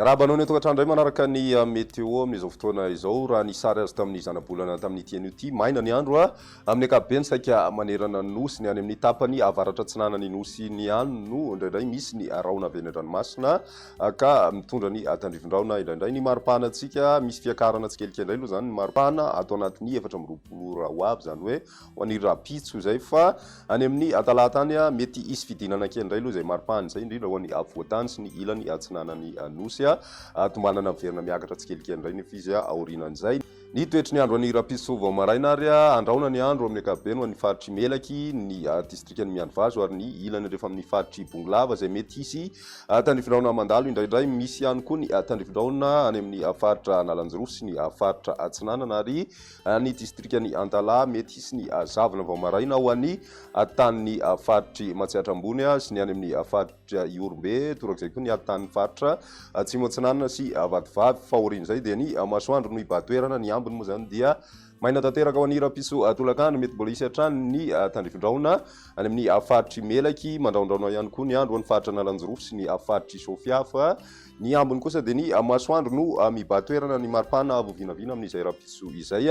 Miarahaba anao ny an-tokantrano indray manaraka ny ah, météo amin'izao fotoana izao. Raha ny sary azo tamin'ny zanabolana tamin'ity anio ity, maina ny andro ah. amin'ny ankapobeny saika manerana ny nosy ny any amin'ny tapany avaratra atsinanan'ny nosy ny any no indraindray misy ny rahona avy any an-dranomasina. Ka mitondra ny tandrivindraona indraindray ny maripana antsika, misy fiakarana tsikelikely indray aloha izany ny maripana ato anatin'ny efatra amby roapolo ora ho avy, izany hoe ho an'ny rahampitso izay, fa any amin'ny talata any mety hisy fidinana kely indray aloha izay maripana izay, indrindra ho an'ny afovoan-tany sy ny ilany atsinanan'ny nosy, tombanana miverina miakatra tsikelikely indray nefa izy aorianan'izay. Ny toetry ny andro any Rapiso vao maraina ary andrahona ny andro amin'ny ankapobeny ho an'ny faritr'i Melaky, ny distrikan'i Mianivazo ary ny ilany rehefa amin'ny faritr'i Bongolava izay mety hisy tandrifindrahona mandalo indraindray. Misy ihany koa ny tandrifindrahona any amin'ny faritra Analanjirofo sy ny faritra Atsinanana ary ny distrikan'i Antalaha. Mety hisy ny zavona vao maraina ho an'ny tanin'ny faritr'i Matsiatra Ambony sy ny any amin'ny faritr'i dia Ihorombe, torak'izay koa ny hatanin'ny faritra Atsimo Atsinanana sy Vatovavy, fa aorian'izay dia ny masoandro no hibahan-toerana, ny ambiny moa izany dia maina tanteraka ho an'ny hiram-piso tolakandro, mety mbola hisy hatrany ny tandrifindraona any amin'ny faritr'i Melaky, mandrahondrahona ihany koa ny andro ho an'ny faritra Analanjirofo sy ny faritr'i Sofia, fa ny ambiny kosa dia ny masoandro no mibahan-toerana, ny maripana avo vinavina amin'izay hiram-piso izay,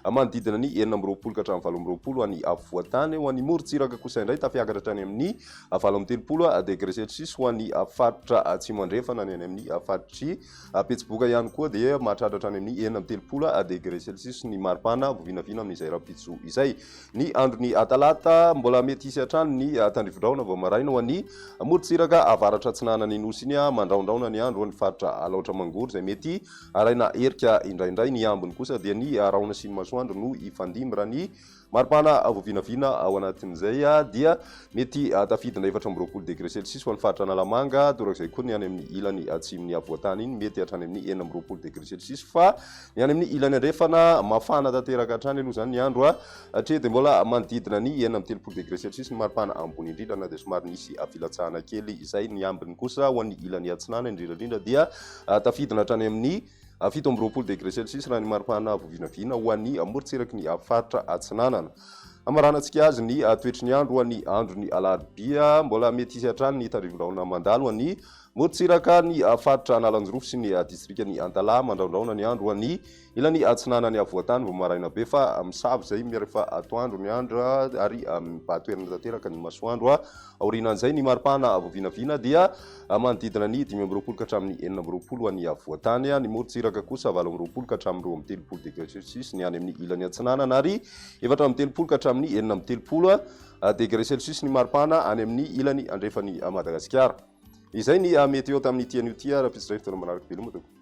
manodidina ny enina amby roapolo ka hatramin'ny valo amby roapolo any afovoan-tany, ho an'ny morontsiraka kosa indray tafiakatra hatrany amin'ny valo amby telopolo degré celsius ho an'ny faritra atsimo andrefana ny any amin'ny faritr'i Betsiboka ihany koa dia mahatratra hatrany amin'ny enina amby telopolo degré celsius ny maripana vao vinavina amin'izay rahampitso izay. Ny andron'ny talata mbola mety hisy hatrany ny tandrivodraona vao maraina ho an'ny morontsiraka avaratra atsinanan'ny nosy iny mandrahondrahona ny andro ho an'ny faritra Alaotra Mangoro izay mety haraina herika indraindray. Ny ambiny kosa dia ny rahona sy ny masoandro no hifandimby raha ny Maripana vao vinavina ao anatin'izay dia mety tafidina efatra amby roapolo degre celsius ho an'ny faritra Analamanga, torak'izay koa ny any amin'ny ilany atsimon'ny afovoan-tany iny mety hatrany amin'ny enina amby roapolo degre celsius fa ny any amin'ny ilany andrefana mafana tanteraka hatrany aloha izany ny andro hatreto dia mbola manodidina ny enina amby telopolo degre celsius ny maripana ambony indrindra na dia somary nisy filatsahana kely izay, ny ambiny kosa ho an'ny ilany atsinanana indrindra indrindra dia tafidina hatrany amin'ny a fito amby roapolo degré celsius raha ny maripana avo vinavina ho an'ny morontsiraky ny faritra Atsinanana. Hamaranantsika azy ny toetry ny andro ho an'ny andron'ny alarobia. Mbola mety hisy hatrany ny tandrevin-drahona mandalo an'ny morontsiraka ny faritra Analanjirofo sy ny distrikan'i Antalaha mandraondraona ny andro ho an'ny ilany atsinanan'ny afovoantany vao maraina be fa misava izay rehefa atoandro ny andro ary mibatoerana tanteraka ny masoandro. Aorianan'izay, ny mari-pana avo vinavina dia manodidina ny dimy amby roapolo ka hatramin'ny enina amby roapolo ho an'ny afovoan-tany, ny morontsiraka kosa valo amby roapolo ka hatramin'ny roa amby telopolo degre celsius ny any amin'ny ilany atsinanana ary efatra amby telopolo ka hatramin'ny enina amby telopolo degre celsius ny mari-pana any amin'ny ilany andrefan'i Madagasikara. Izay ny Meteo tamin'ity anio ity, rahampitso indray fotoana manaraka veloma tompoko.